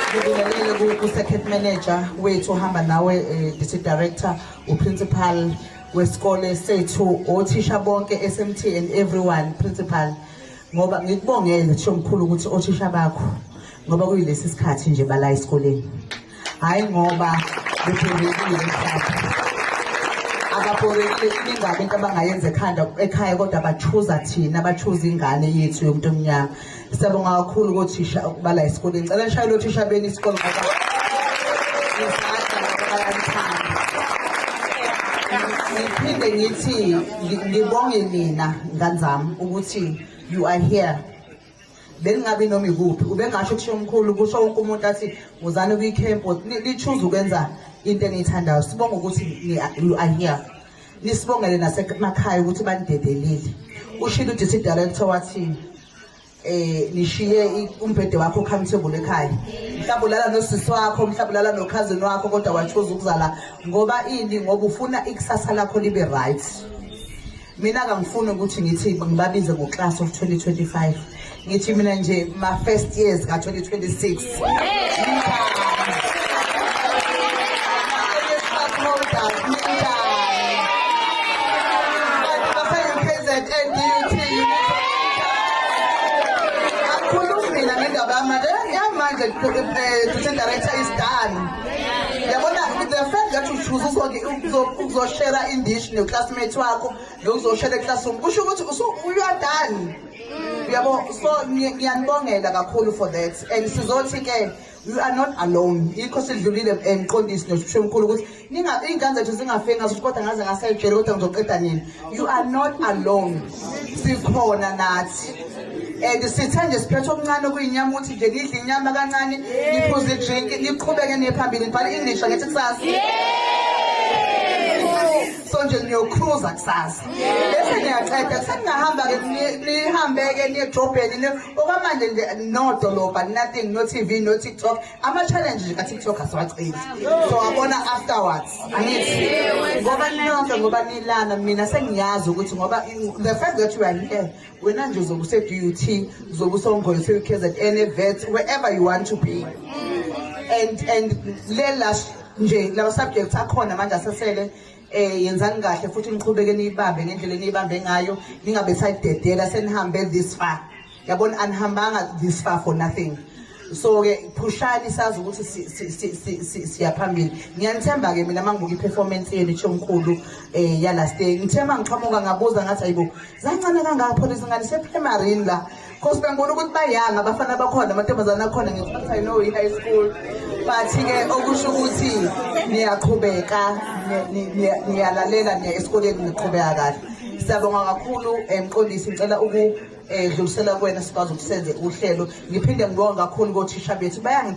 ngibingelele ku-circuit manager wethu ohamba nawe eh, district director uprincipal wesikole sethu othisha bonke smt and everyone principal ngoba ngikubongele thisho mkhulu ukuthi othisha bakho ngoba kuyilesi sikhathi nje bala esikoleni hhayi ngoba bephendekile ababorekile ingabe into abangayenza ekhanda ekhaya kodwa bathuza thina bathuza ingane yethu yomuntu omnyama Siyabonga kakhulu kothisha ukubala esikoleni. Ngicela nishayele othisha beni isikole ngoba ngiphinde ngithi ngibonge nina ngane zami ukuthi you are here belingabi noma ikuphi ubengasho kusho omkhulu kusho wonke umuntu athi wozani kwi-camp lichuze ukwenza into eniyithandayo sibonga ukuthi you are here nisibongele nasemakhaya ukuthi banidedelile ushilo udisi director wathi eh nishiye umbhede wakho comfortable ekhaya mhlawumbe ulala nosisi wakho mhlawumbe ulala nokhazini wakho kodwa wachoza ukuzala ngoba ini ngoba ufuna ikusasa lakho libe right mina kangifuni ukuthi ngithi ngibabize ngo-class of 2025 ngithi mina nje ma-first years ka-2026 Assistant Director is done. Yabona the fact that uchuza uzoke uzoshera indish neclassmate wakho nokuzoshera eclassroom kusho ukuthi you are done. yabo so ngiyanibongela kakhulu for that and sizothi ke you are not alone yikho sidlulile emqondisi nosishemkhulu ukuthi iy'ngane zethu zingafe ngaso ukuthi kodwa ngaze ngasayijele kodwa ngizoqeda nini you are not alone sikhona nathi and sithe nje siphethe okuncane okuyinyama ukuthi nje nidle inyama kancane niphuze idrinki niqhubeke niye phambili ngibhala i-english angithi kusasa so nje niyokruza kusasa bese niyaqeda kuseningahamba-ke nihambe-ke niyedrobheni okwamanje nje nodolobha nothing no-tv no-tiktok ama-challenge nje ka-tiktok asiwaceli so abona afterwards angithi ngoba nonke ngoba nilana mina sengiyazi ukuthi ngoba the fact that you are here wena nje uzobe use-dut uzobe usongolse kzn evet wherever you want to be and and le lash nje lama subjects akhona manje asesele eh yenzani kahle futhi niqhubeke niyibambe ngendlela eniyibambe ngayo ningabe sayidedela senihambe this far yabona anihambanga this far for nothing so ke phushani sazi ukuthi siyaphambili ngiyanithemba ke mina mangibuka iperformance yenu ithomkhulu eh ya last day ngithema ngiqhamuka ngabuza ngathi ayibo zancane kangapho lezingane seprimary la cause bengibona ukuthi bayanga abafana bakhona amantombazane akhona ngesikhathi i know high school but ke okusho ukuthi niyaqhubeka niyalalela niya esikoleni niqhubeka kahle siyabonga kakhulu emqondisi eh, ngicela uku edlulisela kuwena sikwazi ukusenze uhlelo ngiphinde ngibonga kakhulu kothisha bethu bayangi